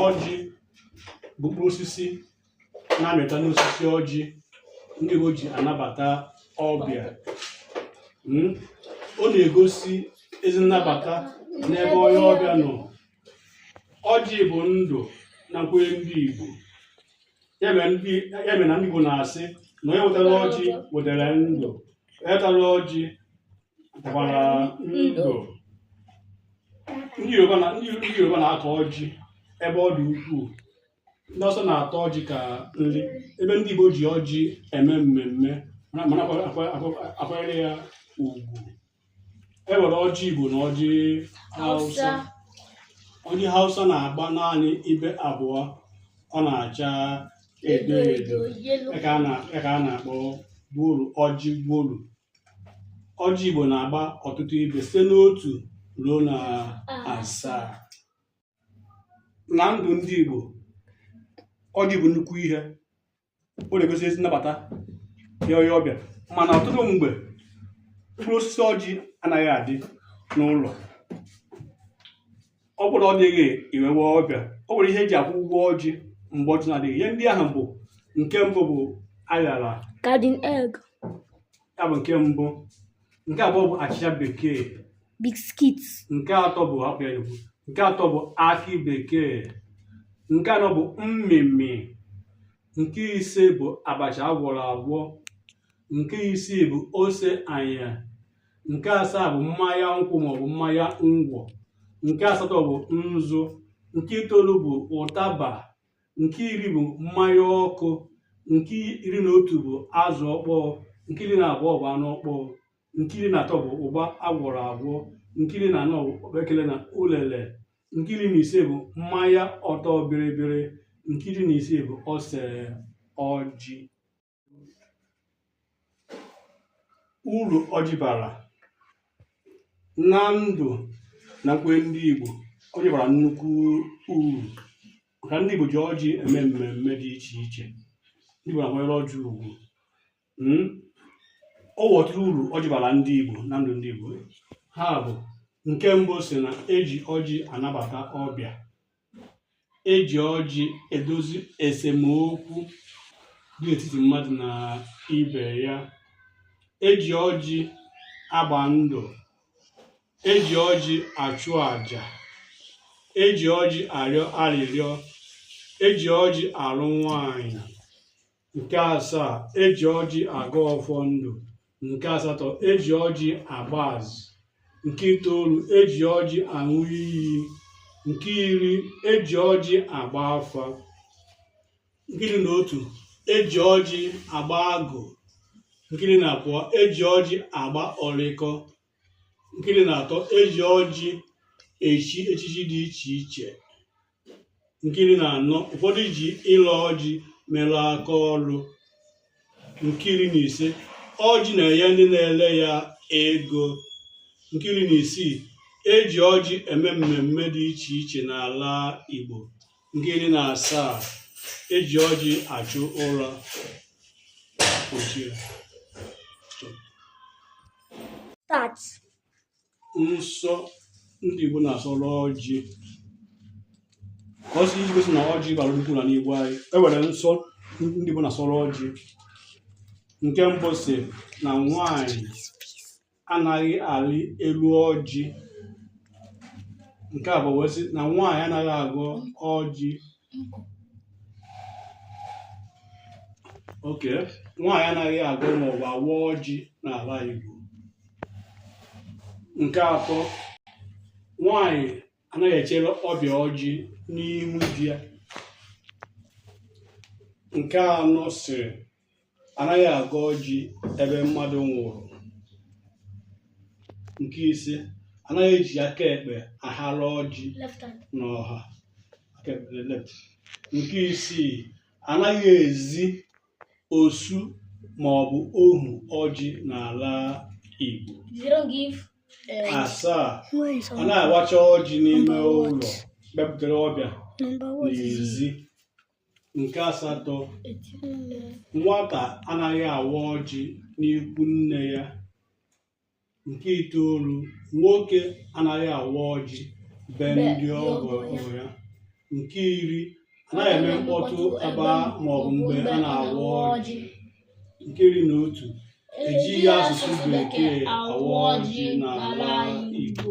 ọjị bụ mkpụrụ osisi na-amịta n'osisi ọjị ndị Igbo ji anabata ọbịa hmm? ọ na-egosi ezi nnabata n'ebe onye ọbịa nọ ọjị bụ ndụ na nkwenye ndị Igbo ya mere na ndị Igbo na-asị na onye wetara ọjị wetara ndụ onye tara ọjị gbara ndụ ndị Yoruba na- ndị ndị Yoruba na-akọ ọjị ebe ọ dị ukwuu ndị Hausa na-ata ọjị ka nri ebe ndị Igbo ji ọjị eme mmemme mana mana akwa- akwa- akwa- akwanyere ya ugwu e nwere ọjị Igbo na ọjị Hausa Hausa. ọjị Hausa na-agba naanị ibe abụọ ọ na-acha edo edo yellow. ya ka a na- ya ka a na-akpọ gwolu ọjị gwolu ọjị Igbo na-agba ọtụtụ ibe site n'otu ruo na asaa na ndụ ndị Igbo ọjị bụ nnukwu ihe ọ na-egosi ezi nnabata nye onye ọbịa mana ọtụtụ mgbe mkpụrụ osisi ọjị anaghị adị n'ụlọ ọ bụrụ na ọ dịghị i wee nwee ọbịa o nwere ihe eji akwụ ụgwọ ọjị mgbe ọjị na-adịghị ihe ndị ahụ bụ nke mbụ bụ aṅara garden egg ya bụ nke mbụ nke abụọ bụ achịcha bekee biskit nke atọ bụ nke atọ bụ akị bekee nke anọ bụ mmịmị nke ise bụ abacha agwọrọ agwọ nke isii bụ ose anya nke asaa bụ mmanya nkwụ maọbụ mmanya ngwọ nke asatọ bụ nzu nke itoolu bụ ụtaba nke iri bụ mmanya ọkụ nke iri na otu bụ azụ ọkpọọ nke iri na abụọ bụ anụ ọkpọọ nke iri na atọ bụ ụgba agwọrọ agwọ nke iri na anọ bụ okpekele na ulele nke iri na ise bụ mmanya ọtọ bịrịbịrị nke iri na isii bụ ose ọjị uru ọjị bara na ndụ na nkwenye ndị Igbo ọjị bara nnukwu uru maka ndị Igbo ji ọjị eme mmemme dị iche iche ndị Igbo na-akwanyere ọjị ugwu hmm? o nwere ọtụtụ uru ọjị bara ndị Igbo na ndụ ndị Igbo ha bụ nke mbụ sị na eji ọjị anabata ọbịa eji ọjị edozi esemokwu dị n'etiti mmadụ na ibe ya eji ọjị agba ndụ eji ọjị achụ àjà eji ọjị arịọ arịrịọ eji ọjị alụ nwanyị nke asaa eji ọjị agọ ọfọ ndụ nke asatọ eji ọjị agba azụ nke itoolu eji ọjị aṅụ iyi nke iri eji ọjị agba afa nke iri na otu eji ọjị agba agụ nke iri na abụọ eji ọjị agba orikọ nke iri na atọ eji ọjị echi echichi dị iche iche nke iri na anọ ụfọdụ ji ile ọjị mere aka ọrụ nke iri na ise ọjị na-enye ndị na-ele ya ego nke iri na isii eji ọjị eme mmemme dị iche iche n'ala Igbo nke iri na asaa eji ọjị achụ ụra nsọ ndị Igbo na-asọrọ ọjị ọ sị iji gosi na ọjị bara nnukwu na n'Igbo anyị enwere nsọ ndị Igbo na-asọrọ ọjị nke mbụ sị na nwanyị anaghị arị elu ọjị nke abụọ wee sị na nwaanyị anaghị agọ ọjị okay nwaanyị anaghị agọ maọbụ awa ọjị n'ala Igbo nke atọ nwaanyị anaghị echere ọbịa ọjị n'ihu di ya nke anọ sịrị anaghị agọ ọjị ebe mmadụ nwụrụ nke ise anaghị eji aka ekpe ahara ọjị n'ọha nke isii anaghị ezi osu ma ọ bụ ohu ọjị n'ala Igbo eh, asaa anaghị awacha ọjị n'ime ụlọ bupụtara ọbịa n'ezi nke asatọ nwata anaghị awa ọjị n'ikwu nne ya nke itoolu nwoke anaghị awa ọjị be ndị ọgọ ya nke iri anaghị eme mkpọtụ ebe maọbụ mgbe a na-awa ọjị nke iri na otu ejighị asụsụ bekee awa ọjị n'ala Igbo